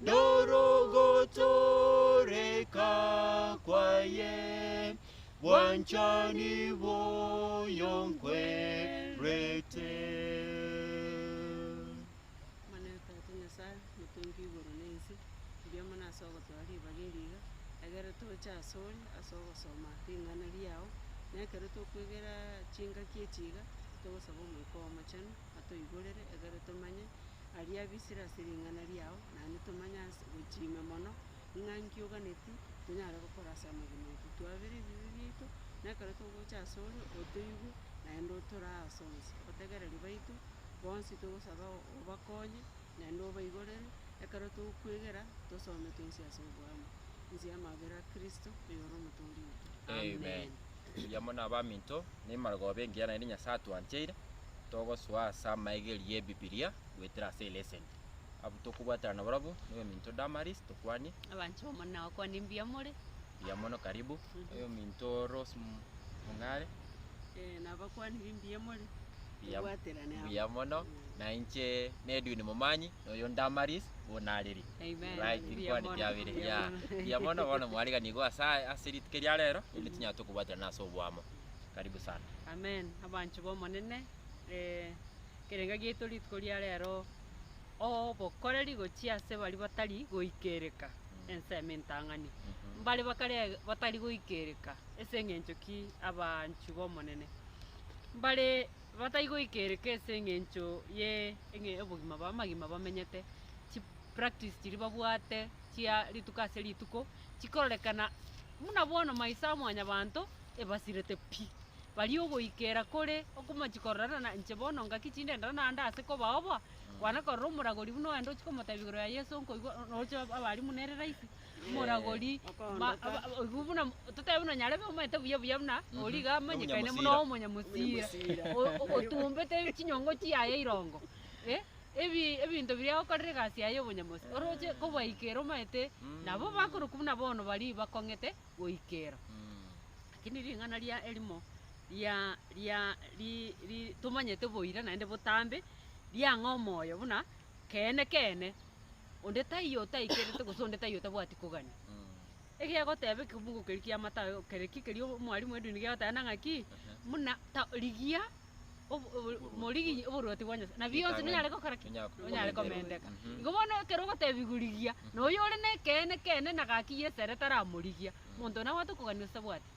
Norogotoreka kwaye bwanchani boyo nkwerete. Mane Tata Nyasae, Motongi igoro na ense, mbuya mono ase ogotoa ribaga eri iga, egere toche asore ase ogosoma ring'ana riao, na ekero tokwegera chingaki echi iga, togosaba Omoika Omochenu atoigorere, egere tomanye Aria bisire ase ring'ana riao, naende tomanye ase gochia ime mono, ng'a nki oganeti, tonyare gokora ase amagena aito, twabere ebibe biaito, na ekero togocha ase ore, otoigwe, naende otorae ase onsi, otegereri baito, bonsi togosaba o- obakonye, naende obaigorere, ekero togokwegera, tosome twensi ase oboamo, nsie amabera a Kristo, oyore omotoori oito. Amen. Amen. Erio amo nabaminto, ne emarogooba engiya naende Nyasae atwancheire. togosoa ase amaegeri y'Ebibilia goetera ase eleseni. Abwo tokobwaterana nabarabwo, na oyominto Damaris, tokwanie. Abanche bamore na gokwania mbuya more. Mbuya mono karibu. Oyominto Rose M- Mung'are, Eh, na abakwanire mbuya more. mbuya- Tobwaterane amo. mbuya mono. Na inche na Edwin Momanyi, na oyo Damaris, bono nareri. Amen. Right, Mbuya nkwane mono, kiabere, mbuya yeah. mono. Mbuya mono, bono mwarigani igo asa ase rituko eria rero, erinde tonyare tokobwaterana ase oboamo. Karibu sana. Amen, abanchwa b'Omonene, ekerenga giaito rituko ria rero, obokoreri gochia ase baria batari goikereka ensemo entang'ani. Mbare bakare batari goikereka ase eng'encho ki abanchwa b'Omonene? Mbare batai goikereka ase eng'encho ye eng'e obogima bwa amagima bamenyete, chi practice chiria babwate chia rituko ase rituko, chikororekana buna bono maiso a mwanyabanto, ebasirete pi. Baria ogoikera kore okomochi kororana na inche bono ngaki chindendera naende ase kobao boa, kwana korora omoragori buna ogende ochie komotebia igoro ya Yeso nkoigwa roche abarimu nere rahisi, omoragori ma- aba- aba- oigwa buna totebe buna nyarebe omanyete buya buya buna oria iga amanyekane buna Omonyamosira. omonyamosira, o- o- otumbete chinyongo chiaye irongo, eh, ebi- ebinto biria agokorera egasi yaye ya obonyamosi, oroche kobaikera omanyete nabo bakorokwa buna bono baria bakong'ete. goikera. Lakini ring'ana ria erimo ria ria ri ri tomanyete boira naende botambe, riang'aa omoyo buna keene keene onde taiyo otaikerete gose onde taiyo otabwati kogania. Egegoteba ekebungo keria kiamatayo kere ki keria omwalimu edini gegoteba nang'aki, muna ta rigia obo- obo- moriginyie oborwoti bwa Nyasae, na bionsi Chitang'ani. nonyare gokora ki? Nonyare ko- Nonyare komenteka. komenteka. Mhm. Igo bono ekero ogotebigwa rigia, na oyio ore na ekeene kene na gaki yesere taramorigia, monto naye obwate okogania ase bwati.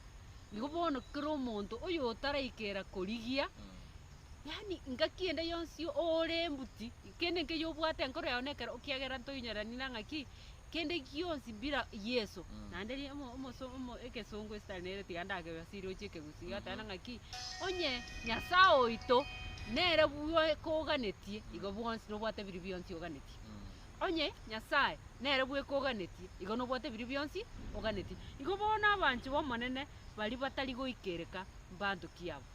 Igo bono kera omonto oyo otaraikera korigia, Mm. yaani ngaki ende yonsi ore embuti, kende nkeiyo obwate enkoro yago nekero, ekiagera ntoinyerani nang'aki, kende gionsi bira Yeso. Naende ri- omo- omoso- omo- egesongo ase tari nere tiga ndagegasirie gochia ekegusii, egoteba ng'a ki, onye Nyasae oito nere bwe koganetie, igo bwonsi nobwate biria bionsi oganetie. Onye Nyasae nere bwe koganetie, igo nobwate biria bionsi oganetie. Igo bono abanchwa b'Omonene baria batari goikereka mbanto ki aba.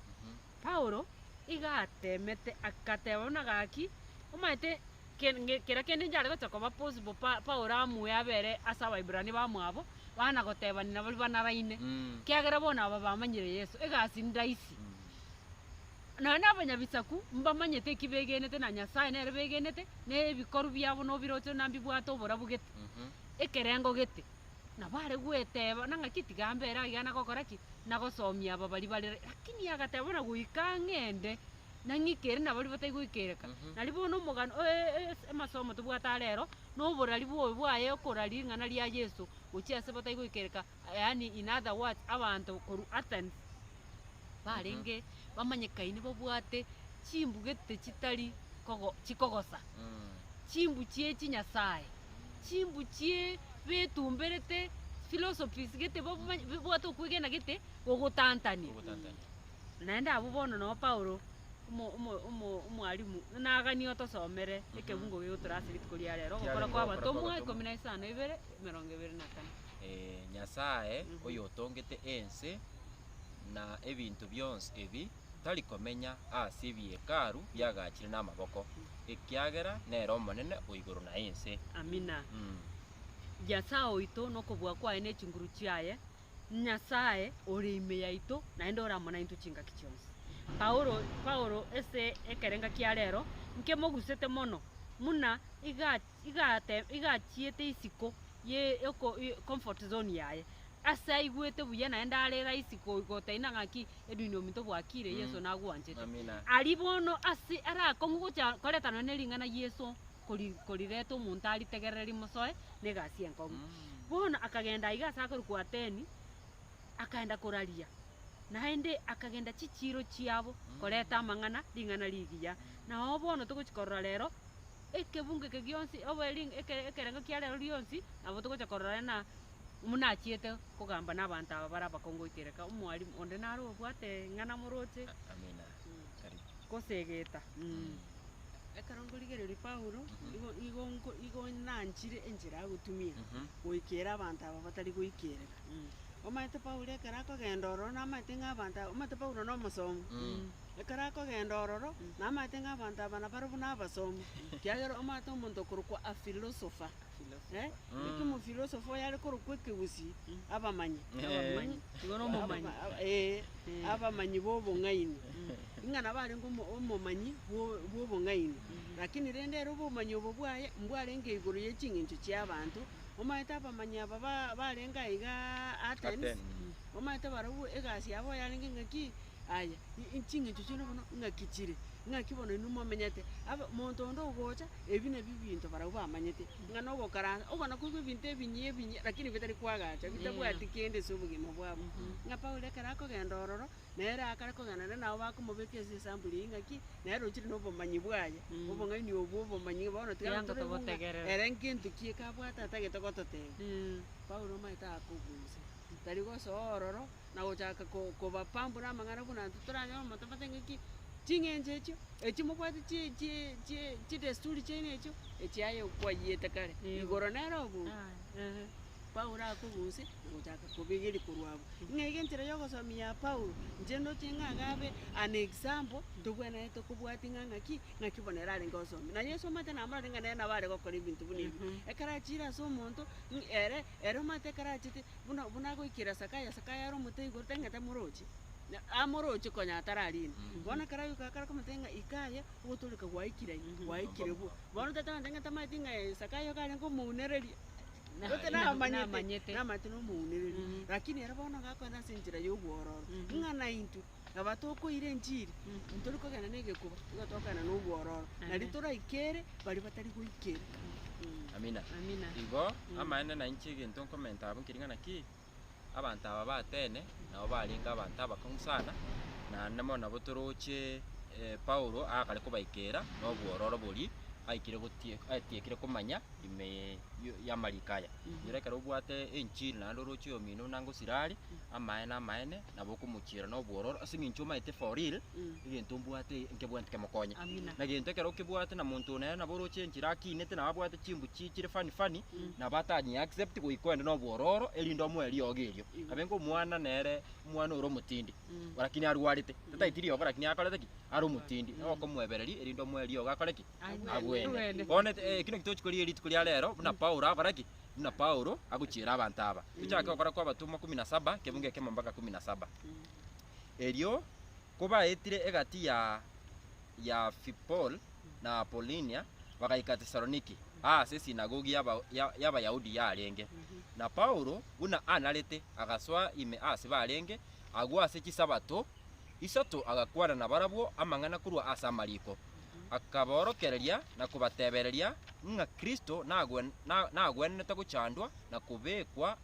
Paulo iga ateemete, agateba buna gaki, omanyete kera kende inche are gocha koba possible Paulo amue abere ase Abaibrania bamwabo, bana gotebania nabori banaraine, kiagera bono aba bamanyire Yeso, egasi ndaisi. Nonya na abanyabisaku mbamanyete eki begenete na Nyasae nere begenete, na ebikorwa biabo nobiroche na mbibwate oborabu gete, ekerengo gete. Nabo are gweteba, na ng'aki tiga mbere aiga na gokora ki? Na gosomia aba baria bare. Lakini agateba buna goika ang'ende, na ng'ikere na baria batai goikereka. Mhm. Nari bono omogano, o- e- e- es- amasomo tobwate are ero, na oborari bwobe bwaye okora ring'ana ria Yeso gochia ase batai goikereka, yaani in other words, abanto korwa Athens, barenge bamanyekaine babwate chimbugete chitari kogo chikogosa, chimbu chie chinyasae, chimbu chie betumberete philosophies gete babwa babwate okwegena gete gogotantania. Ogotantania. Naende abwo bono noo Paulo, omo omo omo omwalimu ng'ina aganie otosomere ekebungo gegotura ase rituko ria rero, Kiarenge ogokora kwa ogokora abatomwa kw'abatomwa. ikomi na isano na ibere, emerongo ebere na kane. Eeh, Nyasae, Oyo otongete ense. na ebinto bionsi ebi tari komenya ase ebihekalu biagaachire namaboko, ekiagera nere Omonene o igoro na ense. Amina. Mm. Nyasae oito nokobua kwaye ne chinguru chiaye, Nyasae ore ime yaito naende ore amo naintwe chingaki chionsi. Paulo Paulo ase ekerenga kia rero nkemogusete mono muna iga igate igachiete isiko ye yoko comfort zone yaye. Ase aigwete buya naende arere aa isiko igo otaina ng'aki edwin na ominto bwakire Yeso Mm. nagwanchete. Amina. Aria bono ase arakong'u gocha koretana ne ring'ana Yeso kori korireta omonto aritegerere rimosoe na egasi enkong'u. Mm. Bono akagenda aiga ase akorokwa Ateni, akaenda koraria, naende akagenda chichiiro chiabo koreta amang'ana ring'ana rigiya. Nao bono togochi korora rero. ekebungo eke gionsi obo eri ekere ekerengo kia rero rionsi, nabo togocha korora ng'a buna achiete kogamba na abanto aba bare abakongu goika ere. Ka omwalimu onde nare obwate eng'ana moroche Amina, karibu. gose egeta. Ekero nkorigereria Paulo, igo igo nko igo nanchire enchera agotumia goikera abanto aba batari goikereka. Omanyete Paulo ekero akogenda ororo namaete ng'a abanto aba omanyete Paulo na omosomi. Ekero akogenda ororo, namaete ng'a abanto aba nabarwe buna abasomi, ekiagera omaete omonto okorokwa afilosofa, ekiomofilosofa oyare korokwa ekegusii, abamanyi, Abamanyi, nigo nomomanyi. Aba- ee, abamanyi b'obong'aini. Ng'a nabo arenge omo- omomanyi bwo- bw'obong'aini. Rakini rende ere obomanyi obo bwaye, mbwarenge igoro ye ching'encho chi'abanto, omaete abamanyi aba ba- barenge aigaa Atens, Atens. omaete barobwo egasi yabo yarenge ng'a ki, Aya, i- ching'encho chiane bono ng'aki chire, ng'aki bono inwe momenyete, aba monto onde ogocha, ebi nabio ebinto barabwo bamanyete, ng'a na ogokaransa, okona koigwa ebinto ebinyia ebinyia lakini bitari koagacha, bitabwati kende ase obogima bwabo. Ng'a Paulo ekero akogenda ororo, nere akare kogenda nere nabo bakomobeka ase esampuli eyio ng'aki, nere rochire na obomanyi bwaye, obong'aini obo bwa obomanyi ng'a bono tiga Kianga toraigwa ng'a togotegerera. ere ngento ki ekabwate atagete gototebia. Paulo omanyete akogusa, tari gosoa ororo, na gochaka ko- kobapa buna amang'ana buna intwe toranyore omonto abate ng'aki, ching'encho echio, echio mobwate chi- chi- chi- chidesturi chiaino echio, echiaye kwaiyete kare, Eeh. igoro nere obobe, Aye. eeh. Paulo akogusia, nagochaka kobegeria korwa abwo. Ng'a iga enchera ya ogosomi ya Paulo, inche ndoche ng'a iga abe an example, ntobwenerete kobwatia ng'a ng'aki, ng'aki bono ere arenge ogosomi. Na Yeso omanyete namororire ng'a nere nabo are gokora ebinto buna ebi. Ekero achiire ase omonto, ng- ere. Ere omanyete ekero achete, buna buna agoikera Sakaya, Sakaya are omote igoro, tang'ata moroche, na amoroche konya atararire. Bono ekero agoika akare komotebia ng'a ika aye, ogotooreka gwaikire aye, gwaikire buya. Bono tata one tang'ata amanyete ng'a ee Sakaya iga arenge omounereria, gose namanyete, namanyete nomounereria. Lakini ere bono gakoenda ase enchera yobwororo, ng'a naintwe. Naba tokoira enchiri, ntori kogenda negekuba, nigo togokana nobwororo, na riria toraikere baria batari goikera. Amina. Amina. Igo amaene nainche egento nkomenta abwo nkeri ng'ana ki, abanto aba batene nabo barenge abanto abakong'u sana, naende mono nabo toroche Paulo agakare kobaikera nobwororo boria aikire gotie atiekire komanya ime ya y'amariko aya. Erio ekero obwate enchiri naende oroche omino buna ngosira are, amaene amaene nabo okomochiera nobwororo ase eng'encho omaete for real egento mbwate nkebwenti kemokonye Amina. na gento ekero okebwate na monto one nabo oroche enchera akinete nabo abwate chimbuchi chire funny funny nabo atanyi accept goika oende nobwororo erinde omoe riogo erio abe ngomwana nere omwana ore omotindi lakini arwarete tataeti riogo lakini akorete ki are omotindi nabo okomoebereria erinde omoe riogo akore ki Agwene. Agwene. Bono ekero tochi korigia rituko ria rero buna Paulo akore ki buna Paulo agochiera abanto aba. Tochake gokora kw'abatomwa ikomi na saba, ekebugu ekemo mpaka ikomi na saba. Erio kobaetire egati ya ya Phipol na Apollinia, bagaika Tesaloniki, aase esinagogi y'aba- ya- y'Abayahudi yarenge. Na Paulo, buna anarete, agasoa ime aase barenge agwo ase chisabato isato agakwana nabarabwo amang'ana korwa ase amariko. akabaorokereria na kobatebereria ng'a Kristo nagwen- na- nagwenerete gochandwa na kobekwa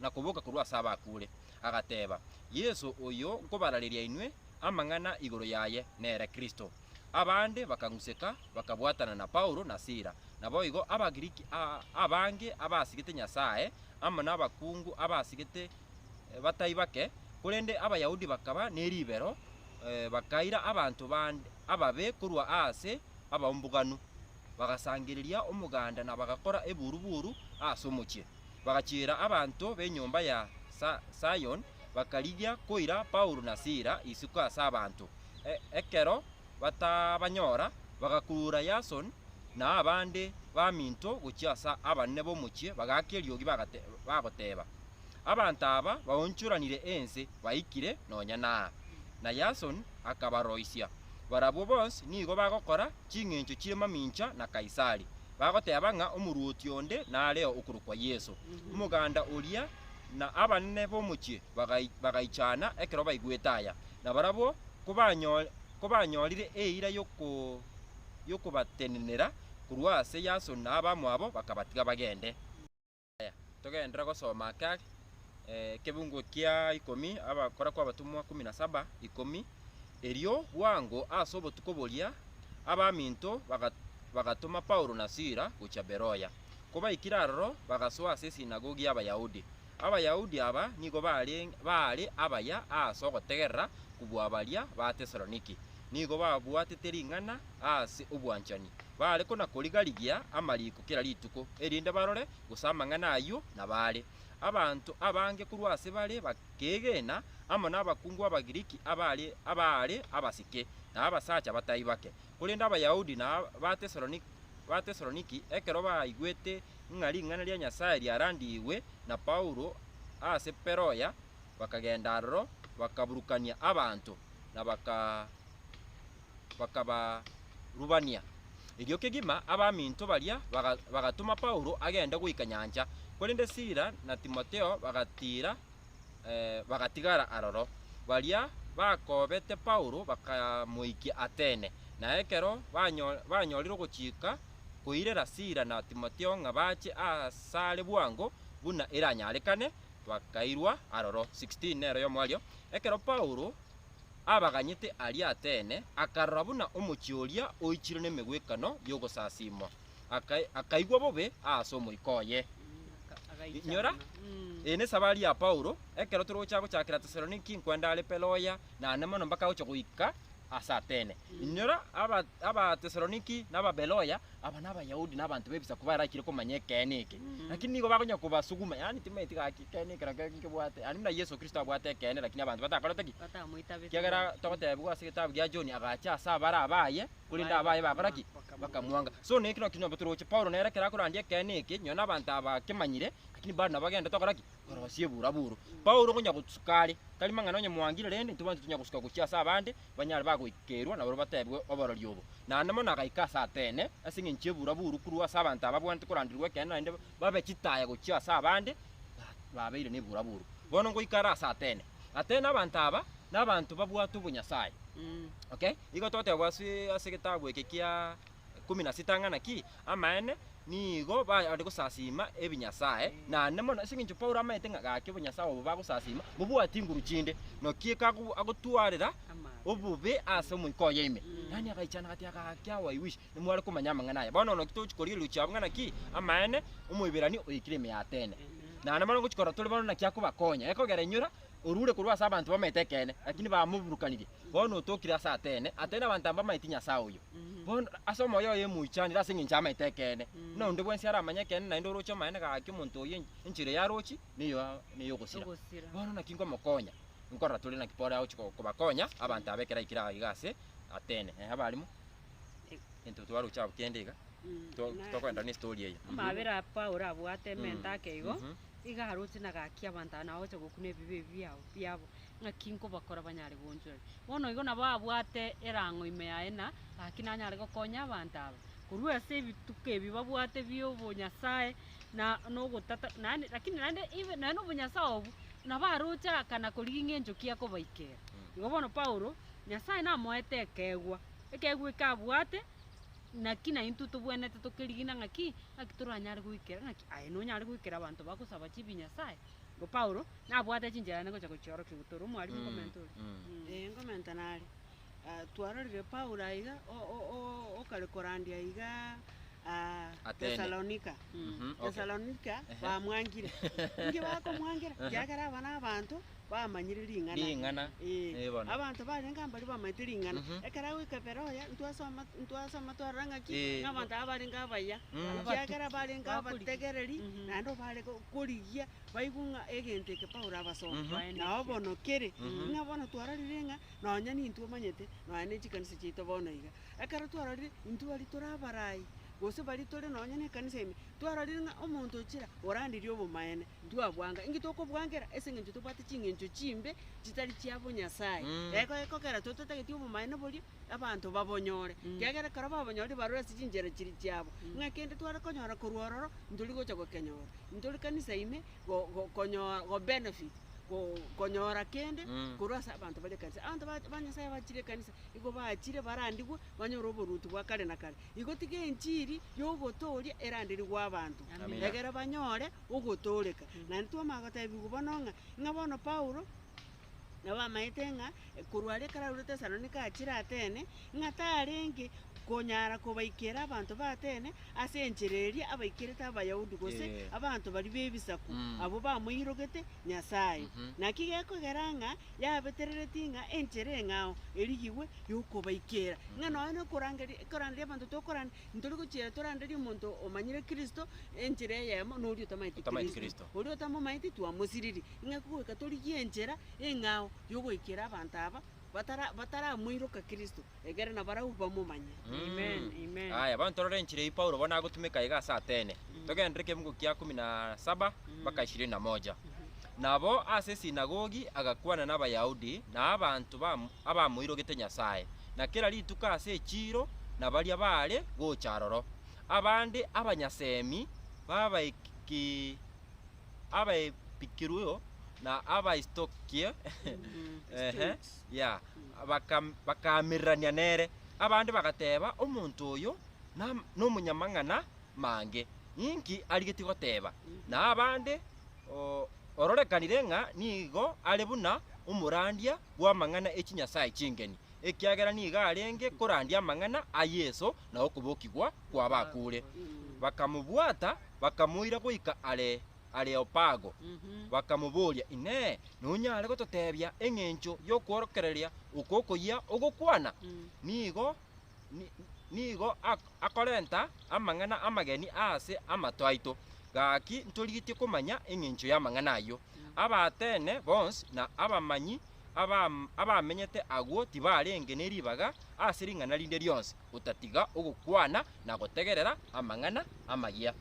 na koboka korwa ase abakure, agateba, Yeso oyo nkobarareria inwe amang'ana igoro yaye nere Kristo. Abande bakang'useka, bakabwatana na Paulo na Sila. Naboigo Abagiriki a- abange abasigete Nyasae, amo nabakungu abasigete eh, batai bake, korende Abayahudi bakaba neribero, eh, bakaira abanto bande, ababe korwa aase abaumbuganu, bagasangereria omoganda na bagakora eburu-buru aase omochie. Bagachiera abanto b'enyomba ya Zion, bakarigia koira Paulo na Sila isiko ase abanto. Ekero batabanyora, bagakurura Yason na abande baminto gochia ase abanene b'omochie, bagaaka eriogi, bagoteba, Abanto aba baonchoranire ense baikire nonya naa. Na Yason akabaroisia, Barabwo bonsi nigo bagokora ching'encho chie mamincha na Kaisari, bagoteeba ng'a omorwoti onde nareo okorokwa Yeso. Omoganda oria na abanene b'omochie bagaichana ekero baigwete aya, na barabwo kobanyorire eira y'okobatenenera korwa ase Yason na abamwabo bakabatiga bagende. Aya, togenderere gosoma ake ake, ekebuungo kia ikomi, Abakora kw'Abatomwa ikomi na saba, ikomi, Erio bwango ase obotuko boria abaminto baga- bagatoma Paulo na Sila gochia Beroya. Kobaikire aroro bagasoa ase esinagogi y'Abayahudi. Abayahudi aba nigo bare- baare abaya aase ogotegerera kobua baria ba Tesaloniki. Nigo babwatete ring'ana aase obwanchani, baare konakoriga-rigia amariiko kera rituko, erinde barore gose amang'ana ayio nabaare. Abanto abange korwa ase bare bakeegena, amo nabakungu Abagiriki abaare abaare abasike, na abasacha batai bake. Korende Abayahudi na Abatesaloniki ekero baigwete ng'a ring'ana ria Nyasae riarandigwe na Paulo aase Beroya, bakagenda aroro, bakaburukania abanto, na baka bakabarubania. Erio kegima abaminto baria baga bagatoma Paulo agende goika nyancha, korende Sila na Timotheo bagatiira eh bagatigara aroro. Baria bakobete Paulo bakamoikia Atene, na ekero banyo banyorire ogochika koirera Sila na Timotheo ng'a bache asare bwango buna eranyarekane, twakairwa aroro. 16 nero yomo aria, ekero Paulo abaganyete aria Atene, akarora buna omochie oria oichire nemegwekano y'ogosasimwa, aka- akaigwa bobe aase omoika oye. Inyora, eye nesabari ya Paulo, ekero tore gocha gochakera Tesaloniki, nkwende are Beroya, naende mono mpaka agocha goika ase Atene. Inyora, aba- Abatesaloniki na Ababeroya aba n'Abayahudi na abanto b'Ebisaku barakire komanya ekeene eke, lakini nigo bakonyara kobasuguma, yaani timaeti gaki ekeene eke rakio nkebwate, yaani buna Yeso Kristo abwate ekeene lakini abanto batakorete ki? Batamoitabete. Ekiagera togotebiwa ase egetabu gia John, agacha ase abare abaye, korende abaye bakora ki? Bakamwanga. So na eke nakio nabo toroche. Paulo nere ekero akorandia ekeene eke, nonye na abanto aba bakemanyire, lakini bado nabo bagenda tokora ki? Korosia eburaburo. Paulo okonyara gosuka are, tari mang'ana onye mwangire rende, intwe bonsi tonya gosuka gochia ase abande, banyare bagoikerwa nabarabwo batebwe oborori obo. Naende mono agaika ase Atene ase engencho y'ebuura buru korwa ase abanto ababwanete koranderia gw'ekeene naende babe chitaya gochia ase abande babeire nebuura buru. Bono ngoika are ase Atene. Atene abanto aba nabanto babwate obonyasae. Okay? Nigo togoteba ase ase egetabu eke kia. ikomi na sita ng'a naki amaene nigo baare gosasiima ebinyasae, naende mono ase engencho Paulo amaete ng'a gaki obonyasae obo bagosasiima bobwate inguru chinde, naki ekago agotwarera obobe ase omoika oye ime. Yaani agaichana agateeba, Gaki awo I wish nimware komanya amang'ana aya. Bono naki togochia korigereria chiabo ng'a naki amaene Omoiberania oikire ime y'Atene. Naende bono ngochia korora tore bono naki akobakonya, ekogera enyora orure korwa ase abanto bamaete ekeene, lakini bamoburukanirie. Bono otokire ase Atene, Atene abanto aba mbamaeti Nyasae oyo. Bono ase omoyo oye moichanire ase engencho y'amaete ekeene. Buna onde bwensi aramanye ekeene naende oroche amaene gaki omonto oyio enchera eyo arochi neyo ney'ogosira. Ogosira. Bono naki nkomokonya, nkorora tore naki Paulo agochia ko- kobakonya abanto aba ekero aikire iga ase Atene. Ehe abarimo. Into twaroche abwo kende iga, to- Na- tokoenderera ne story eye. Mhm. Amabera a Paulo abwate ementa Mm. ake igo, Mhm. iga aroche na agakia abanto aba na gocha gokuna ebibe ebi biabo biabo, ng'aki nkobakora banyare goonchoreka. Bono igo nabo abwate erang'o ime yaye na gaki nanyare gokonya abanto aba, korwa ase ebituko ebi babwate bia obonyasae, na na ogotata naende lakini naende even nonye na obonyasae obwo, nabo aroche aakana korigia ng'a enchoki ekobaikera. Igo bono Paulo, Nyasae namoete ekeegwa. Ekeegwa eke abwate, naki naintwe tobwenerete tokerigina ng'aki, ng'aki toranyare goikera, ng'aki aye nonyare goikera abanto bagosaba chibi Nyasae? Bo Paulo, nabwate chinchera ane gocha gochiorokia gotoro omwarimu okomenta oria. Ee, nkomenta nare. Ah, twarorire Paulo aiga o- o- o- okare korandia aiga ah, Atene. Thessalonica. Mhm, okay. Thessalonica Ehe. bamwangire. Inki bakomwangira? Ekiagera aba nabanto. bamanyire ring'ana. Ring'ana, Ee, ee bono. abanto barenge mbaria bamanyete ring'ana. Mhm. Ekero agoika Beroya, ntwasoma, ntwasoma twarora ng'aki Ee. ng'a abanto aba barenge abaya, Mm. ekiagera barenge Bakorigia. abategereri, Mhm. naende obare go- korigia baigwe ng'a egento eke Paulo abasoma. Mhm. Baendekie. Nao bono kere, Mhm. ng'a bono twarorire ng'a nonya nintwe omanyete, nonya ne chikanisa chiaito bono iga. Ekero twarorire, intwe baria tore abarai, gose baria tore nonya nekanisa ime, twarorire ng'a omonto ochira oranderia obomaene, ntwabwanga. Inki tokobwangera? Ase engencho tobwate chingencho chimbe chitari chia bonyasae. Reko reko ekero tore totageti obomaene boria, abanto babonyore. Kiagera ekero babonyorire barure ase chinchera chiria chiabo. Ng'a kende tware konyora korwa ororo, ntori gocha gokenyora. Ntori kanisa ime go- go- konyoa go benefit, go- konyora kende korwa ase abanto bari ekanisa. Abanto ba- ba Nyasaye abachire ekanisa, igo bachire barandigwe banyore oboruoti bwa kare na kare. Igo tiga enchiri ya ogotooria eranderigwe abanto. Amina. Egere banyore ogotooreka. Naende twamanya gotebigwa bono ng'a, ng'a bono Paulo, nabo amaete ng'a korwa are ekero arure Tesalonika achire Atene, ng'a tarenge konyara kobaikera abanto ba Atene ase enchera eria abaikerete Abayahudi gose Eh. abanto baria b'ebisaku, Mm. abwo bamoirogete Nyasae. Mhm. Naki gekogera ng'a yabetereretie ng'a enchera eng'ao erigigwe y'okobaikera. Ng'a nonya na okorangeria, koranderia abanto tokorande, Ntori gochiera toranderie omonto omanyire Kristo, enchera eyemo, noria otamaeti Otamaeti Kristo. Kristo. Oria otamomaeti twamosiririe. Ing'aki goika torigie enchera eng'ao yogoikera abanto aba batara bataramoiroka Kristo, egere na barabwo bamomanye. Amen, amen. Aya, bono torore enchera eyio Paulo bono agotumeka iga ase Atene. Togenderere ekemugo kia kumi na saba mpaka ishirini na moja. Nabo ase esinagogi agakwana n'Abayahudi na abanto abamoirogete Nyasae, na kera rituko ase echiiro na baria baare gocha aroro. Abande abanyasemi b'Abaepikurio na Abastoiki bakaamererania nere. Abande bagateeba, Omonto oyo nomonyamang'ana, mange, ninki arigetie goteeba, na abande o, ororekanire ng'a nigo are buna omorandia bw'amang'ana e chinyasae chingeni, ekiagera nigo arenge korandia amang'ana a Yeso na okobokigwa kw'abakure. Bakamobwata, bakamoira goika are Areopago, bakamoboria, Inee! Nonyare gototeebia engencho y'okworokereria oko okoyia ogokwana? Nigo nigo akorenta amang'ana amageni aase amato aito. Gaki ntorigetie komanya engencho y'amang'ana ayio. Abaatene bonsi na abamanyi abamenyete agwo tibarenge ne ribaga ase ring'ana rinde rionsi, otatiga ogokwana na gotegerera amang'ana amaya.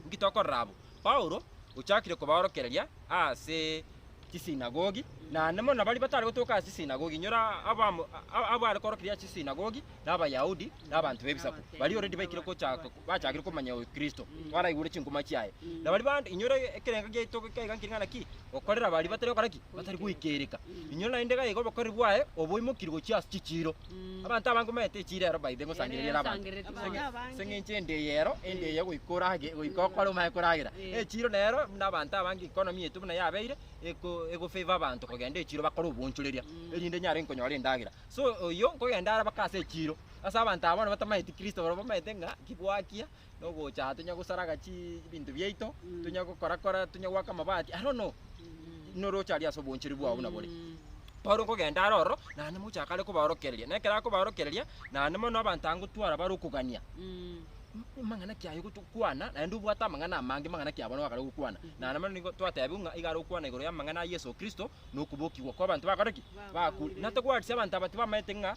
Inki tokorora abwo? Paulo ochakire kobaorokereria ase chisinagogi, naende mono baria batare gotoka ase chisinagogi, inyora abamo- a- abwo are koorokereria ase chisinagogi na Abayahudi na abanto b'Ebisaku, baria already baikire gochaka bachakire komanya oyo Kristo, baraigure chinkuma chiaye. Na baria bande, inyora ekerengo giaito gaiga nkire ng'a naki? Gokorera baria batari gokora ki? Batari goikereka. Inyora naende iga iga obokoreri bwaye oboimokirie gochia ase chichiiro. Abanto abange omanyete echire ero baithe ngosangereria ere abanto. Ere esangereti mono. Ase ng'encho ende eye ero, ende eye goika orage, goika okore omanye koragera. Eh. Echiro nero buna abanto abange economy yaito buna yabeire, eko egofavour abanto kogenda echiro bakore oboonchoreria, erinde nyare nkonyora endagera. So oyio, nkogenda are mpaka ase echiro. Ase abanto aba bono batamanyeti Kristo, barabwo bamanyete ng'a ki gwakia, nogocha aa tonya gosaraga chii ebinto biaito, Mm. tonya gokora kora, tonya goaka amabati, I don't know. Noroche aria ase obonchori bwao buna bore. Mm. Paulo okogenda are ororo, naende mogocha akare kobaorokereria, na ekero akobaorokereria, naende mono abanto agotwara bare okogania, Mm. M- mang'ana ki aye gotokwana, naende obwate amang'ana amange mang'ana ki abwo bakare gokwana. Naende mono nigo twatebiwa ng'a iga are gokwana igoro y'amang'ana a Yeso Kristo, na okobokigwa kw'abanto bakore ki? Bakure. Bakure. Natogwarisie abanto aba tibamaete ng'a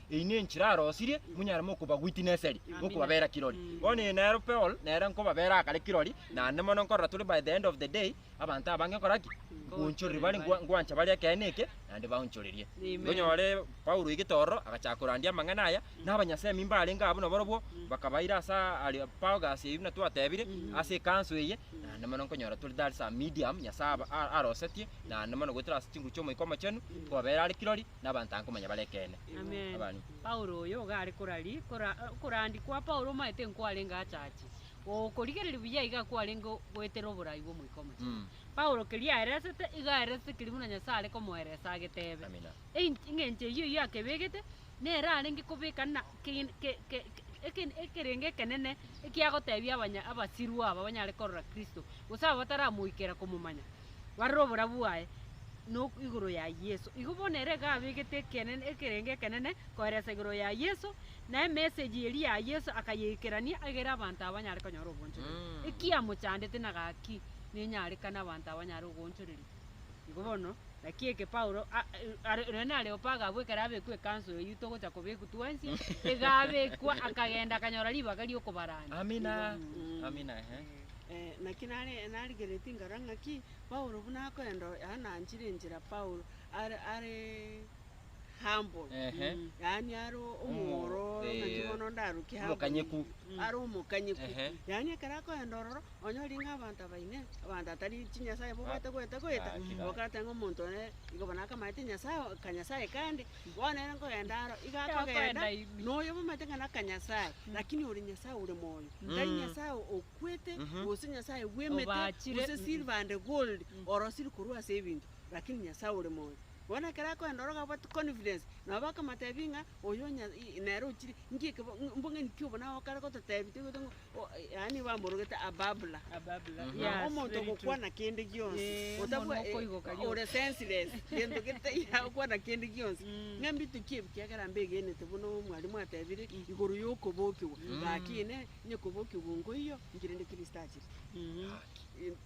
Eyi nenchera arosirie monyare mokobagwitina eseri, mokobabera kirori. Bono eyi nero Peol nere nkobabera akare kirori, naende mono nkorora tore by the end of the day, abanto abange nkora ki? Nkoonchoreria bare nkwa- nkwancha bare ekeene eke, naende baonchorerie. Tonyore Paulo oigete ororo, agachaka korandia amang'ana aya, na abanyasemi mbarenge abwo nabarobwo, bakabaira ase Areopagus eyio buna twatebire, ase ekanso eye, naende mono nkonyora tore that is a medium Nyasae aba- a- arosetie, naende mono goetera ase chinguru chi'Omoika Omochenu, nkobabera are kirori, nabanto ange komanya bare ekeene. Abani. Paulo oyo iga are korari, kora, okorandi kwa Paulo omaete nkwarenge achache, okorigereria buya iga kwarenge goetera oborai bw'Omoika Omochenu. Mm. Paulo keria aeresete, iga aeresete keria buna Nyasae are komoeresa ageteebe. Amina. Ein- eng'encho eyio oyio akebegete, nere arenge kobeka na kin- ke- ke- ke- eken- ekerenge ekenene ekiagoteebia abanya- abasirwa aba banyare korora Kristo, gose aba bataramoikera komomanya. barore oborabu bwaye no igoro ya Yeso. Igo bono ere iga abegete ekenene, ekerengo ekenene koeresa igoro ya Yeso, na emessage eria ya Yeso akayeikerania egere abanto abanyare konyora oboonchoreria. Mm. Eki amochandete na gaki nenyarekane abanto abanyare ogoonchoreria. Igo bono, naki eke Paulo a- e- are- ere na Areopago abwo ekero abekwa ekanso eyio togocha kobekwa twensi, iga abekwa akagenda akanyora ribaga riokobarania. Amina. Igo- mm. Amina, ehe. Naki narigeretie ngaro ng'a ki, Paulo buna akoenda oo yananchire enchera, Paulo are are humble, yaani are omwororo ng'aki bono ndaruke humble. Omokanyeku. Are omokanyeku. Ehe. Yaani ekero akoenda ororo, onye oria ng'a abanto aba inee, abanto atari chinyasae bobwate goeta goeta, Gaki, gaki. okoteba ng'a omonto one igo bono akamaete nyasae oo, kanyasae kande, Bono ere nkogenda aro, iga akogenda, na oyo bwamate ng'a naka Nyasae, lakini ore Nyasae ore moyo, tari Nyasae okwete, gose Nyasae bw'emete, gose silver and gold, orosiri korwa ase ebinto, lakini Nyasae ore moyo. Bono ekero akogenda oro iga abwate confidence, nabo bakamotebia ng'a oyo Nya- i- nere ochire, nki ekebo- mbong'e nki obo naye okare gototebia toigwete ng'o yaani bamorogete a babbler, na omonto ogokwana kende gionsi, otabwa ore senseless, gento getaiyo agokwana kende gionsi, ng'a mbitukie ebi kiagera mbegenete buna omwalimu atebire igoro ya okobokigwa, gaki inee, onye kobokigwa oo nkoiyo, inki rende Kristo achire?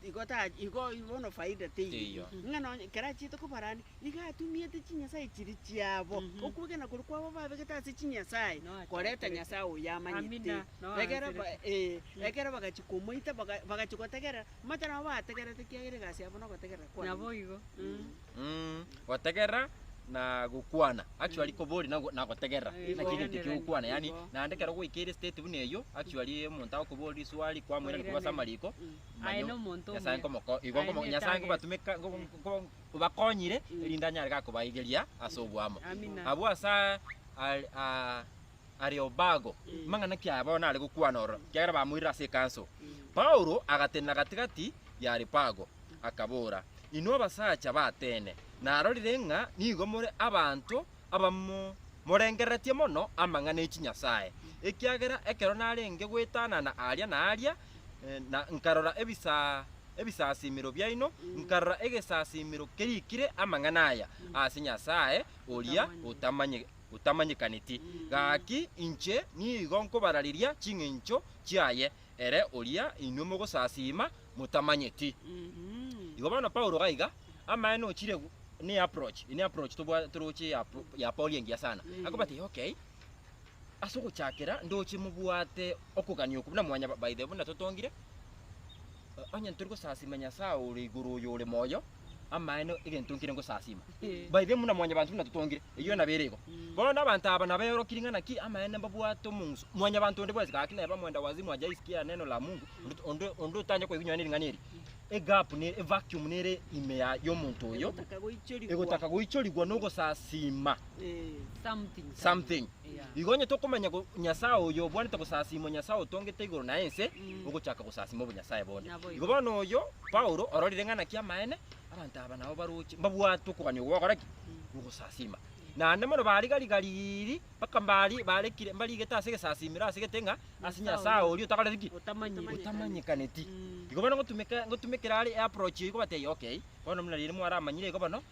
Igo ta igo bono faida teiyo, ng'a nonye ekero achiete kobarania, iga atumiete chinyasae chiria chiabo, okwegena koria kwabo babegete ase chinyasae, koreta Nyasae oyo amanyete. Ekero ba ee, ekero bagachia komoita baga bagachia gotegerera, omanyete nabo bategerete ekiagera egasi yabo na ogotegerera kwabo. Naboigo. Mh, gotegerera na gokwana. Actually kobori na na gotegerera, Igo. naki egento ekio gokwana yani, Igo. naende ekero gwaikire state buna eyio, actually omonto agokoboria riswali kwamoira nikoba ase Koiranera. amariko, Mm. manya Aye na omonto omuya. Nyasae nkomoko igo Aye nkomo na Nyasae etagete. nkobatumeka nko- Mm. nko- nkobakonyire, Mm. erinde anyare ga kobaigeria ase obwamo. Amina. Abwo asa are aa Areopago, amang'ana ki aya bono are gokwana ororo, ekiagera bamoirire ase ekanso. Paulo agatenena gati-gati y'Areopago, akabora, Inwe abasacha b'Atene, narorire ng'a nigo more abanto abamo morengereretie mono amang'ana e chinyasae, ekiagera ekero narenge gwetanana aaria na aaria, na nkarora ebisasimero biaino, nkarora egesasimero kerikire amang'ana aya ase Nyasae oria otamanyekete. otamanyekaneti, gaki inche nigo nkobarareria ching'encho chiaye, ere oria inwe mogosasiima motamanyeti. Igo bono Paulo gaiga, amaene ochire gu- ne approach, ene approach tobwa- toroche ya pro- ya Paul engiya sana, akobati okay, ase ogochakera ndoche mobwate okogania oko buna mwanya ba- by the way buna totongire, onye ntori gosasiima Nyasaye ore igoro oyo ore moyo, amaene egento nkire ngosasima. Baithe muna mwanyabanto buna totongire, eyio nabere igo. Bono nabanto aba nabeorokirie ng'a naki amaene mbabwate omong'uso. Mwanyabanto onde bwensi gaki neba mwenda wazimu aja aisikie neno la Mungu, onde onde onde otancha koigwa nonye ring'ana eri. Egap ne evacuum nere ime ya y'omonto oyo, Egotaka goichorigwa. egotaka goichorigwa nogosasima. Something. Igo onye tokomanya go- Nyasae oyo obwanete gosasiimwa, Nyasae otongete igoro na ense, ogochaka gosasiima obonyasae bonde. Naboigo. Igo bono oyo, Paulo, ororire ng'a naki amaene, abanto aba nabo baroche, mbabwate okogania okwo bagokora ki? Ogosasiima. Naende mono barigarigariiri, mpaka mbari- barekire, mbarigete ase egesasiimero ase gete ng'a ase Nyasae oria otakoreti ki? Otamanyeti. Otamanyekaneti. Mm. Igo bono ngotumeka, ngotumekera are eapproach eyio, ngobatebia okay, bono buna riria mwaramanyire igo bono,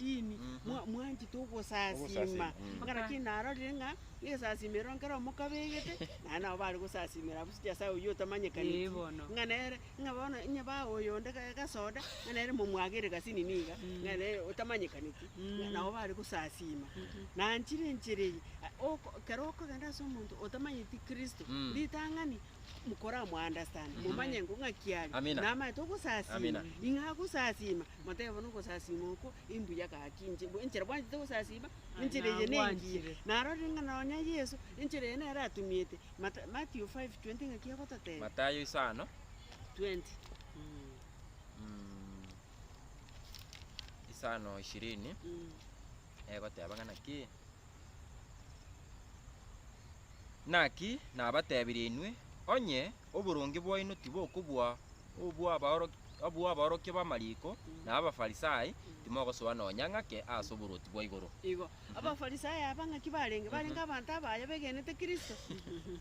Imi mwa- mwanchete ogosasima. Ogosasima, mm. Mpaka lakini narorire ng'a nesasima eroro nkere omokabegete, naye nabo bare gosasimera abwo ase Nyasae oyio otamanyekaneti. Ee, bono. Ng'a nere, ng'a bono onye bae oyo onde ga- gasoda, ng'a nere momwagere gasini niga, ng'a nere otamanyekaneti, ng'a nabo bare gosasima. Nanchire enchera eye, a- oko- ekero okogenda ase omonto otamanyeti Kristo, ritang'ani. mokoramounderstand, momanye ng'o ng'aki are, Amina. namaete ogosasiima, Amina. ing'e agosasiima, motebe bono ogosasiima okwo imbuya gaki inche, bwe- enchera bwanchete ogosasiima, enchera eye nengiya, Nabwanchire. narorire ng'a nonya Yeso, enchera eye nere atumiete, Mata- Matthew 5:20 ng'aki egototebia? Matayo isano, 20. Mm, mm, isano ishirini, mm. egoteba ng'a naki? Naki nabatebirie inwe, onye oboronge bwaino tibokobua obw'abaorokia b'amariko na Abafarisai, timogosoa nonya ng'ake ase oboruoti bwa igoro. Igo, Abafarisai aba ng'aki barenge? Barenge abanto abaya begenete Kristo,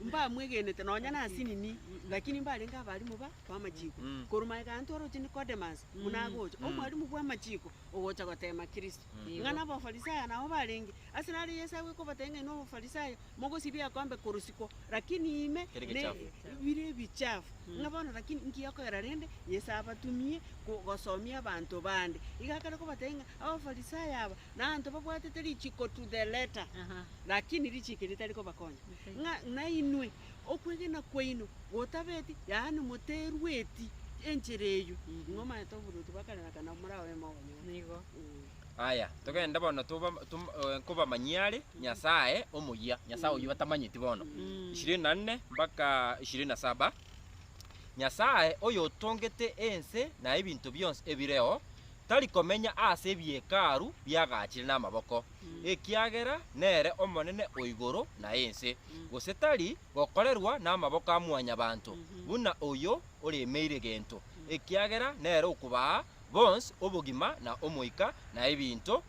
mbamwegenete nonya nase nini, lakini mbarenge abarimu ba b'amachiko. Korwa magega aye ntwaroche Nikodemasi, buna agocha, omwarimu bw'amachiko, ogocha goteema Kristo. Ng'a n'Abafarisaya nao barenge. Ase naro Yeso agwo ekobatebia ng'a inwe Abafarisaya mogosibia ekombe korusiko, lakini ime Bire ebichafu. ne- bire ebichafu. Ng'a bono lakini nki okogera rende Yeso abatumie ko- gosomia abanto bande? Iga akare kobatebia ng'a Abafarisaya aba naanto babwatete richiko to the letter, Aha. lakini richiko eri tari kobakonya. Ng'a nainwe okwegena kwaino gotabeti, yaani moterueti enchera eyio, nigo omanyete oboruoti bwa kare na kare, na morabeemo abanyene. Nigo. Aya, togende bono toba, tom, eh, nkobamanyie are Nyasae omoyia, Nyasae oyio batamanyeti bono. Ishirini na nne mpaka ishirini na saba Nyasae oyotongete ense na ebinto bionsi ebireo, tari komenya aase ebihekalu biagaachire namaboko, ekiagera nere Omonene o igoro na ense, gose tari gokorerwa namaboko a mwanyabanto, buna oyio oremeire gento, ekiagera nere okobaa bonsi obogima na omoika na ebinto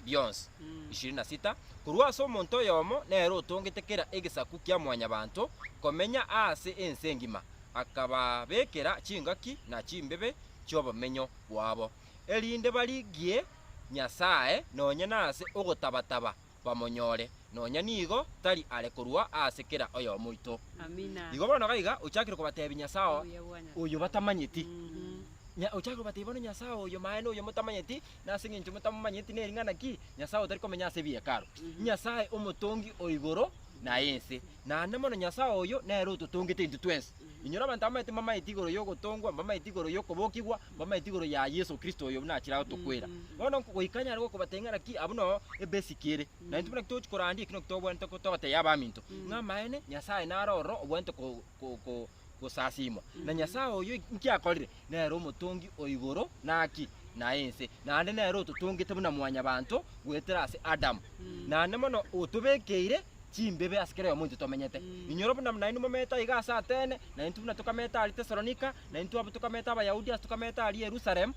bionsi. Ishirini na sita. Korwa ase omonto oyomo nere otongete kera egesaku kia mwanyabanto komenya aase ense engima, akababekera chingaki na chimbebe chiobomenyo bwabo. erinde barigie Nyasae nonya nase ogotaba-taba bamonyore, nonya nigo tari are korwa ase kera oyomo oito. Igo bono gaiga ochakire kobatebia Nyasae oyo batamanyeti. Ochakire kobatebia bono Nyasae oyo maye noyo motamanyeti, nase engencho motamomanyeti nering'ana ki? Nyasae otari komenya ase ebihekalu, Nyasae Omotongi o igoro na ense. Naende mono Nyasae oyo nere ototongete intwe twensi. Inyora abanto abamaete mbamaete igoro y'ogotongwa, mbamaete igoro y'okobokigwa, mbamaete igoro ya Yeso Kristo oyo buna achire agotokwera. Bono goika nyare gokobata ng'a naki abwo no ebesiki ere. Na intwe buna ki togochia korandia eki naki tobwenerete ko- togotebia abaminto, ng'a amaene Nyasae nare ororo obwenerete ko- ko- ko- gosasiimwa. Na Nyasae oyio inki akorire? Nere omotongi o igoro na ki, na ense, naende nere ototongete buna mwanyabanto goetera ase Adamu, naende mono otobekeire chimbibe ase kera oyomo ointwe tomenyete. Inyora buna nainwe momete aiga ase Atene, naintwe buna tokamete aria Tesalonika, naintwe abwo tokamete Abayahudi ase tokamete aria Yerusalemu,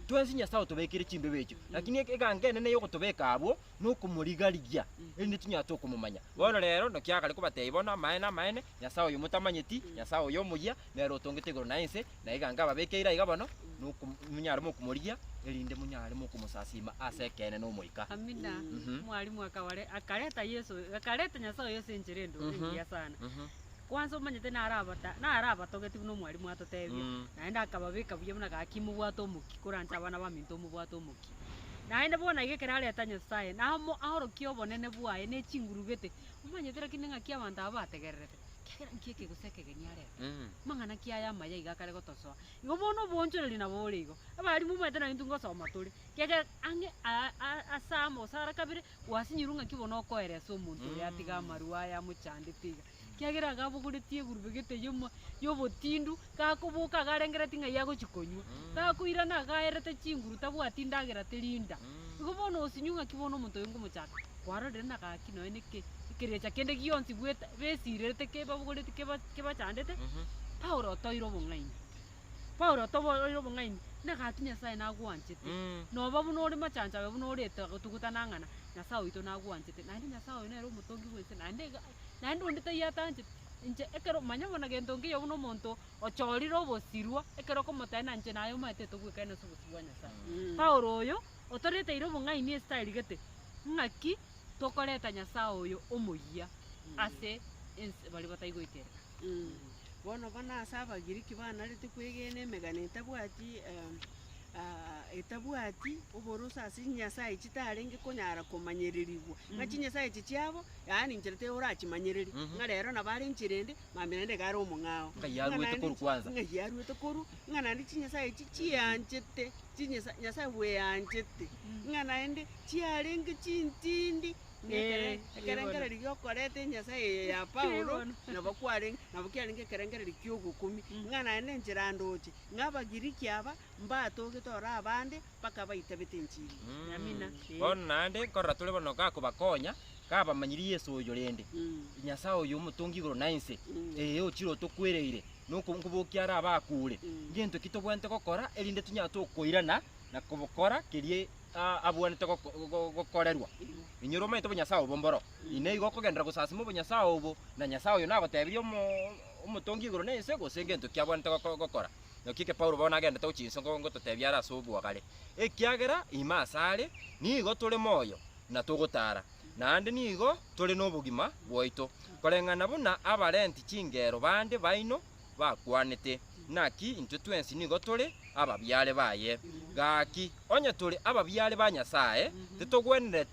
twensi Nyasae otobekeire chimbibe echio. Lakini eke egango enene y'ogotobeka abwo nokomoriga-rigia, erinde tinyara tokomomanya. Bono rero, naki agare kobatebia bono, Amaene, amaene, Nyasae oyo motamanyeti, Nyasae oyo omoyia, nere otongete egoro na ense, na iga nkababekeire aiga bono, nokom, monyare mokomorigia, erinde monyare mokomosasiima ase ekeene n'Omoika. Amina. Mhm. Mwalimu akabare, akareta Yeso, akareta Nyasae oyo ase enchera endoro Mhm. engiya sana. Mhm. Kwansa omanyete naro abata, naro abatogeti buna omwalimu atotebia, Mm. naende akababeka buya buna gaki mobwate omokia, koranche abana baminto mobwate omokia. Omogoki. Naende bono iga ekero areta Nyasae, namo aorokie obonene bwaye ne chinguru gete. Momanyete rakini ng'aki abanto aba bategererete? Kiagera nki eke gose ekegeni arete? Amang'ana ki aya amaya iga akare gotosoa? Igo bono oboonchoreria nabo bore igo. Abarimu, momanyete naki intwe ngosoma tore, kiagera ang'e aa aa ase amo gose are kabere gwasinyorwe ng'aki bono okoeria ase omonto oyo atiga amarua aya amochandete iga. Kiagera iga abogoretie egurube egete y'omo y'obotindu, gakoboka iga arengereti ng'ai agochi konywa. Gakoirana iga aerete chinguru tabwati ndagera teri nda. Igo bono osinywe ng'aki bono omonto oyo ngomochaka. Kwarorire na gaki nonya na eke, ekerecha kende gionsi bwete besirerete kebabogoreti keba kebachandete, Paulo otoeire obong'aini. Paulo otobo oire obong'aini, na gaki Nyasaye nagwanchete. Noba buna ore machancho aye buna oreta gotugutana ang'ana, Nyasaye oito nagwanchete. Naende Nyasaye oyo nere omotongi bw'ense naende iga Naende onde taiyo atanchete, inche ekero, manya bono gento nkeiyo buna omonto ochorire obosirwa, ekero okomotebia na inche naye omanyete togoikaine ase obosio bwa Nyasae. Paulo oyo, otoreteire obong'aini ase tarigete, ng'aki tokoreta Nyasae oyo omoyia ase ense baria bataigoikereka. Bono buna ase Abagiriki banarete kwegena emegano etabwati etabwati oborusa ase chinyasae chitarenge konyara komanyererigwa, ng'a chinyasae echi chiabo, yaani inchera torachimanyereria, ng'a rero nabo are inchera ende, mambia naende iga are omong'ao. Ng'a Ng'a yarwete naende- korwa kwanza. ng'a yarwete korwa, ng'a naende chinyasae echi chianchete, chinyasae Nyasae bweanchete, ng'a naende chiarenge chintindi. Ekerengererio gi'okoreta enyasae eye ya Paulo nabo kwarenge, nabo kiarenge ekerengererio ki'ogokumi, ng'a naye nenchera ndooche, ng'a Abagiriki aba mbatogete ore abande, mpaka abaitabete enchili yamina. Bono naende nkorora tore bono gakobakonya, gabamanyirie Yeso oyo rende, Nyasae oyo omotongi igoro na inse, ee, ochire otokwereire, na okobokia are abakure, ngento ki tobwenerete gokora, erinde tonyagote okoirana na kobokora keria aa abwenerete goko- go- gokorerwa. Inwe romanyete obonyasae obo mboro, inee igo okogenderera gosasima obonyasae obo, na Nyasae oyo nagotebirie omo- Omotongi igoro na ense gose gento ki abwenerete goko- gokora? Naki eke Paulo bono agenderete gochia inse ngo- ngototebia are ase obwogare, ekiagera ime asare nigo tore moyo na togotara, naende nigo tore nobogima bwaito, koreng'ana buna abarenti chingero bande baino, bakwanete, Naki intwe twensi nigo tore ababiare baye. Gaki, onye tore ababiare ba Nyasae, titogwenere,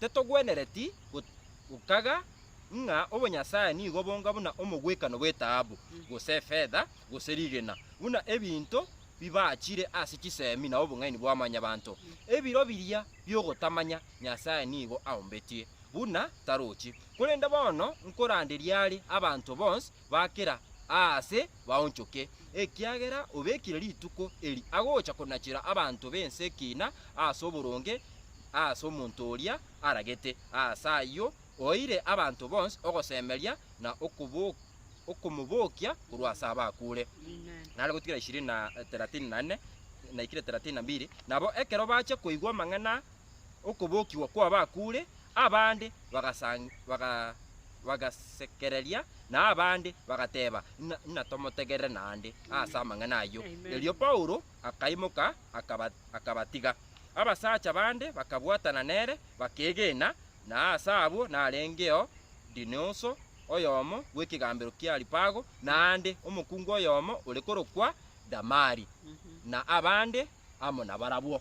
titogwenereti go- gokaga ng'a obonyasae nigo bonga buna omogwekano bw'etaabu, gose efedha, gose rigena, buna ebinto bibachire ase chisemi na obong'aini bwa mwanyabanto. Ebiro biria bi'ogotamanya Nyasae nigo aombetie, buna tarochi. Korende bono nkoranderia are abanto bonsi bakera aase baonchoke, ekiagera obekire rituko eri agocha konachera abanto b'ense ekina aase oboronge aase omonto oria aragete. Aase ayio oeire abanto bonsi ogosemeria na okomobokia korwa ase abakure. Nare gotigera ishirini na thelathini na nne naikire thelathini na mbili, Nabo ekero bache koigwa amang'ana aa, okobokigwa kw'abakuure, abande bagasanga, bagasekereria, na abande bagateeba, Ng'a ng'a tomotegerere naende ase amang'ana ayio. Erio Paulo akaimoka, akaba, akabatiga. Abasacha bande bakabwatana nere, bakeegena, na aase abwo narengeo Dionioso, oyomo bw'ekegambero ki'Aripago, naende omokungu oyomo ore korokwa Damari, na abande. amo nabarabwo.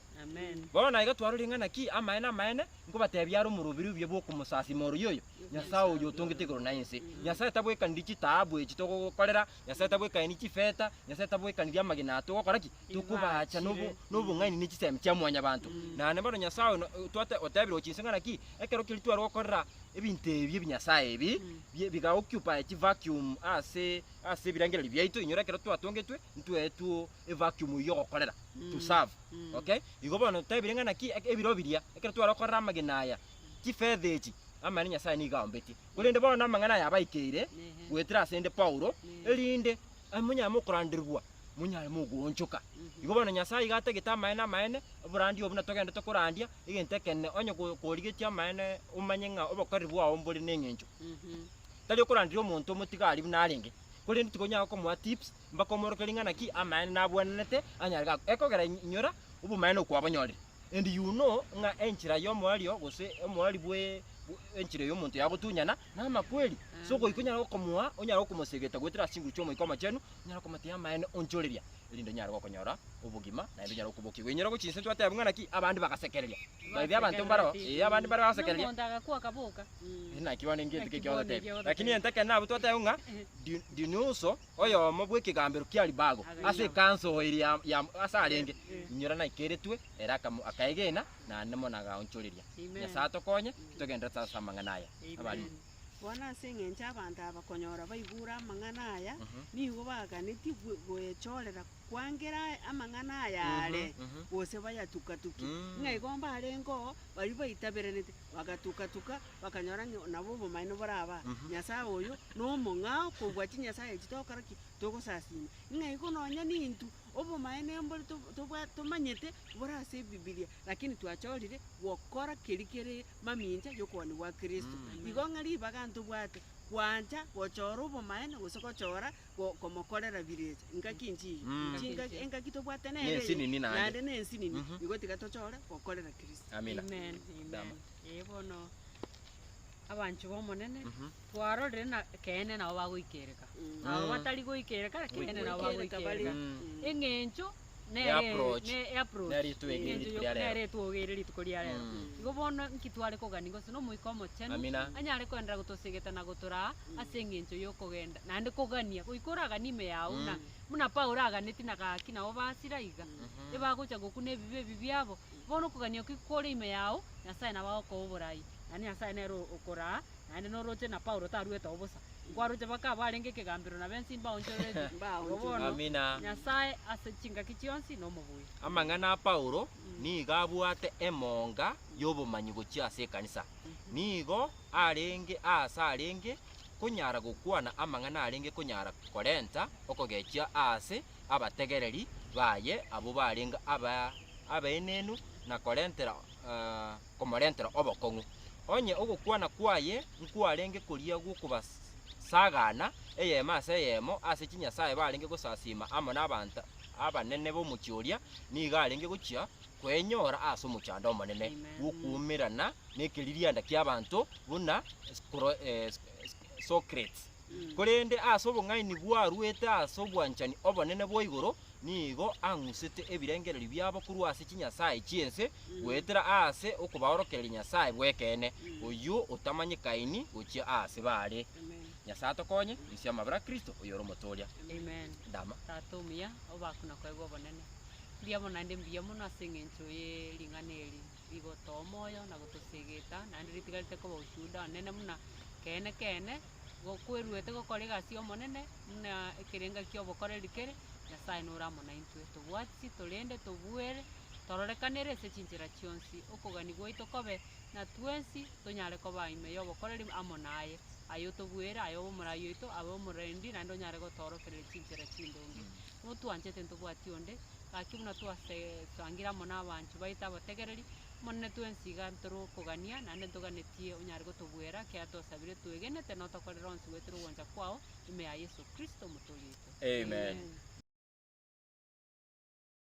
Bono naiga twaro ring'ana ki? Amaene, amaene, nkobatebia are omoroberi obuya bw'okomosasima oroyio oyo, Nyasae oyo otongete igoro na ense. Nyasae tabwekaniri chitaabu echi togogokorera, Nyasae tabwekaniri chifeta, Nyasae tabwekaniri amagena aya togokora ki? Tokobaacha nobo- nobong'aini ne chisemi chia mwanyabanto. Naende bono Nyasae oyo no- twate- otebiregwe chinse ng'ana ki? Ekero keria tware gokorera ebinto ebi ebinyasae ebi, bie- biga occupy chi vacuum ase ase ebirengererio biaito, inyora ekero twatongetwe, ntweetwo evacuum eyio ogokorera, to serve, okay? Igo bono totebire ng'a naki eke ebiro biria ekero tware gokorera amagena aya, chifetha echi, amaene Nyasae nigo aombetie. Korende bono amang'ana aya abaikeire goetera asende Paulo, erinde aa monyare mokoranderigwa, monyare mogoonchoka. Igo bono Nyasae iga atagete amaene amaene, oborandia obwo buna togende tokorandia, egento ekenene, onye ko korigetie amaene omanye ng'a obokoreri bwao mbore neng'encho, tari okoranderia omonto omotigari buna arenge, korende tikonyara gokomoa tips. Mbakomorokia ring'ana ki amaene nabwenenete anyare gakwa, ekogera inyora obomaene okwabonyorire. And you know ng'a enchera y'omoerio gose omoeri bwe enchera y'omonto yagotunyana namakweri. So goika onyare gokomoa, onyare gokomosegeta goetera ase chinguru chi'Omoika Omochenu, onyare komotebi amaene onchoreria, erinde onyare gokonyora obogima, naende onyare gokobokigwa. Inyora gochia inse twateba ng'a naki abande bagasekereria. By the way abanto mbareo, ee abande mbare bagasekereria. Nomonto agakwa akaboka. Naki bono engetho ki ekiagoteba. Lakini egento ekenene nabo twateba ng'a, di- dini also Oyomo bw'ekegambero ki'Aribago ase ekanso eria ya ase arenge inyora naikeretwe, ere akaegena, naende mono agaonchoreria. Nyasae atokonye titogenderete ase amang'ana aya. Abariri. Bono ase engencho abanto aba konyora baigure amang'ana aya, nigo baganetie goechoorera kwangera amang'ana aya aare, gose bayatuka-tuki, ng'a igo mbarengeo baria baitaberenete. Bagatuka-tuka, bakanyora ng'a nabo obomanene boraba aa, Nyasae oyo nomong'ao kobua chinyasae echi, togokora ki? Togosasiima. Ng'a igo nonya nintwe, obomanene mbore to- tobwa tomanyete bore ase Ebibilia, lakini twachorire gokora keria kere mamincha y'okobani gwa Kristo. Igo ng'a ribaga ntobwate, gwancha gochora obomanene gose gochora. go- komokorera bire echi. Engaki nchi eye, Mm. Engaki nchingaki- nchia. engaki tobwate nere eye, Nensinini naende. naende nensinini, Mhm. nigo tiga tochore gokorera Kristo. Amina. Amen, amen. Dama. Eh, bono abanchwa b'Omonene, Mhm. twarorire na ekeene nabo bagoikereka. Mm. Nabo Mm. batari goikereka, ekeene nabo Goikereka bagoikereka. bare. Mm. Eng'encho nere approach, ne- eapproach, nere ritwe eri eng'encho rituko ria y'oku- rero. nere etwogo ere rituko ria rero Mm. igo bono nki tware kogania gose nomoika omochenu Amina. anyare koenderera gotosegeta na gotoraa ase eng'encho y'okogenda naende kogania goika oraganie ime yago buna Mm. buna paulo aganeti na gaki nabo basira iga ebagocha gokuna ebibe ebi biabo bono okogania okio kore ime yago nyasaye nabo agokoa oborai naende nyasaye nere o- okoraa naende noroche na paulo taruete oo bosa Nkwaroche baka abarenge ekegambero na bensi mbaonchoreretie. Nabo bono Amina. Nyasae ase chingaki chionsi nomobui. Amang'ana a Paulo nigo abwate emonga y'obomanyi gochia ase ekanisa. Nigo arenge aase arenge konyara gokwana amang'ana arenge konyara korenta okogechia aase abategereri baye abwo barenge aba abaenenu na korentera eh, komorentera obokong'u. Onye ogokwana kwaye nkwarenge koria gw'okobasagaana eyemo ase eyemo ase chinyasae barenge gosasiima amo nabaanto abanene b'omochie oria, nigo arenge gochia kwenyora ase omochando omonene bw'okwoumerana nekeririanda ki'abaanto buna Socrates. Korende ase obong'aini bwaruete ase obwanchani obonene bwa igoro, nigo ang'usete ebirengererio biabo korwa ase chinyasae chi'ense goetera aase okobaorokereria Nyasae bw'ekeene, oyio otamanyekaini gochia aase baare. Nyasae atokonye, risie amabera a Kristo, oyore omotooria. Amen. Ndama. Tata omuya, obaku na koegwa obonene. Mbuya mono naende mbuya mono ase engencho ye ring'ana eri. rigotoa omoyo na gotosegeta, naende ritigarete koba ushuhuda onene buna keene keene, go kweruete gokora egasi y'Omonene, buna ekerenga ki'obokoreri kere, Nyasae nore amo naintwe, tobwati, torende, tobuere, tororekanere ase chinchera chionsi, okogania gwaito kobe na twensi, tonyare koba ime y'obokoreri amo naye, aye otobuere, aye obe omorai oito, abe omorendi, naende onyare gotoorokereria chinchera chindonge. Notwanchete ntobwati onde. Gaki buna twase twangire amo nabancho baito abategereri, Omonene twensi iga ntorokogania, naende ntoganetie onyare gotobuera ekiagera twosabire twegenete notokorere onsi goetera ogocha kwao, ime ya Yeso Kristo Omotoori oito. Amen.